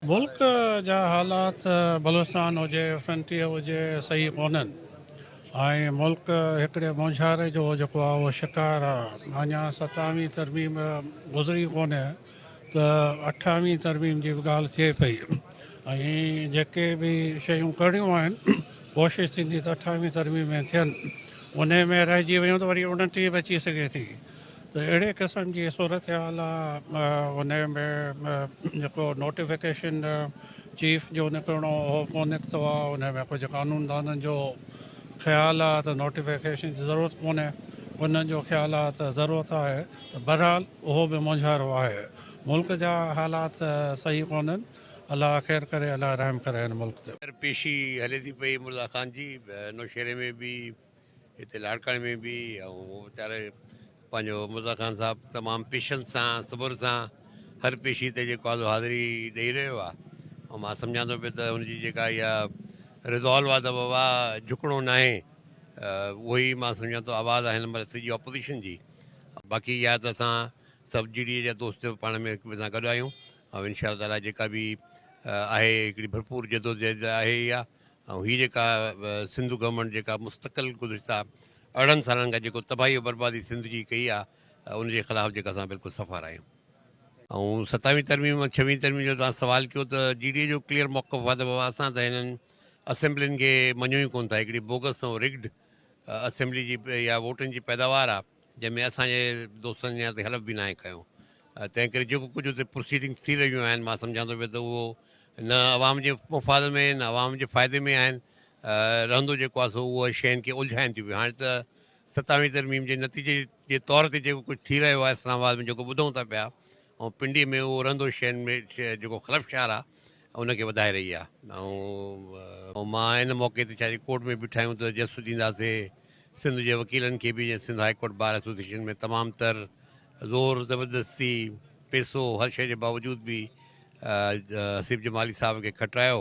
ملڪ جا حالات بلوچستان هجي فرنٽيئر هجي صحيح ڪونهن ۽ ملڪ هڪڙي مونجهاري جو جيڪو آهي اهو شڪار آهي اڃا ستاويهين ترميم گذري ڪونهي ته اٺاويهين ترميم جي به ڳالهه ٿئي پئي ۽ جيڪي به شيون ڪرڻيون آهن ڪوشش ٿيندي ته اٺاويهين ترميم ۾ ٿين انهي ۾ رهجي ويون ته وري اڻٽيهين به اچي سگهي ٿي ته اهڙي قسم جي صورتحال ان ۾ جيڪو نوٽيفڪيشن چيف جو نڪرڻو هو ڪو نڪتو آهي ان ۾ ڪجهه قانوندانن جو خيال آهي ته نوٽيفڪيشن جي ضرورت ڪونهي انهن جو خيال آهي ته ضرورت آهي ته بهرحال اهو به مونجهارو آهي ملڪ جا حالات صحيح ڪونهن الله خير ڪري الله رحم ڪري هن ملڪ تي. خير پيشي هلي ٿي پئي مرزا خان جي نوشهري ۾ به هتي لاڙڪاڻي ۾ به ۽ ويچاري پنهنجو مرزا خان صاحب تمام پيشنس سان صبر سان هر پيشي تي جيڪو آزو حاضري ڏيئي رهيو آ ۽ مان سمجهان ٿو پي ته ان جي جيڪا اها ريزالو آ ته بابا جھڪڻو ناهي اهو ئي مان سمجهان ٿو آواز آ هن مهل سڄي اپوزيشن جي باقي اها ته اسان سڀ جي ڊي اي جا دوست پاڻ ۾ هڪ ٻئي سان گڏ آهيون ۽ انشاء الله تعاليٰ جيڪا به آهي هڪڙي ڀرپور جدوجهد آهي اها ۽ هي جيڪا سنڌ گورنمينٽ جيڪا مستقل گذشته ارڙهن سالن کان جيڪو تباهي بربادي سنڌ جي ڪئي آ ان جي خلاف جيڪا اسان بلڪل صفا راهيون. ۽ ستاويهين ترميم ۽ ڇويهين ترميم جو توهان سوال ڪيو ته جي ڊي اي جو ڪليئر موقف آ ته بابا اسان ته هنن اسيمبلين کي مڃون ئي ڪون ٿا هڪڙي بوگس ۽ رگڊ اسيمبلي جي يا ووٽن جي پيداوار آ. جنهن ۾ اسان جي دوستن جي نياتي حلف به ناهي کنيو تنهن ڪري جيڪو ڪجهه اتي پروسيڊنگز ٿي رهيون آهن مان سمجهان ٿو پيو ته اهو نه عوام جي مفاد ۾ نه عوام جي فائدي ۾ آهن رهندو جيڪو آهي سو اهو شين کي الجهائن ٿيون پيون هاڻي ته ستاويهين ترميم جي نتيجي جي طور تي جيڪو ڪجهه ٿي رهيو آهي اسلام آباد ۾ جيڪو ٻڌون ٿا پيا ۽ پنڊي ۾ اهو رهندو شين ۾ جيڪو خلفشار آهي ان کي وڌائي رهي آهي ۽ مان ان موقعي تي ڇاجي ڪورٽ ۾ به ٺاهيون ته جسٽس ڏينداسي سنڌ جي وڪيلن کي به جيئن Sindh high court bar association ۾ تمام تر زور زبردستي پيسو هر شيء جي باوجود به حسيب جمالي صاحب کي کٽرايو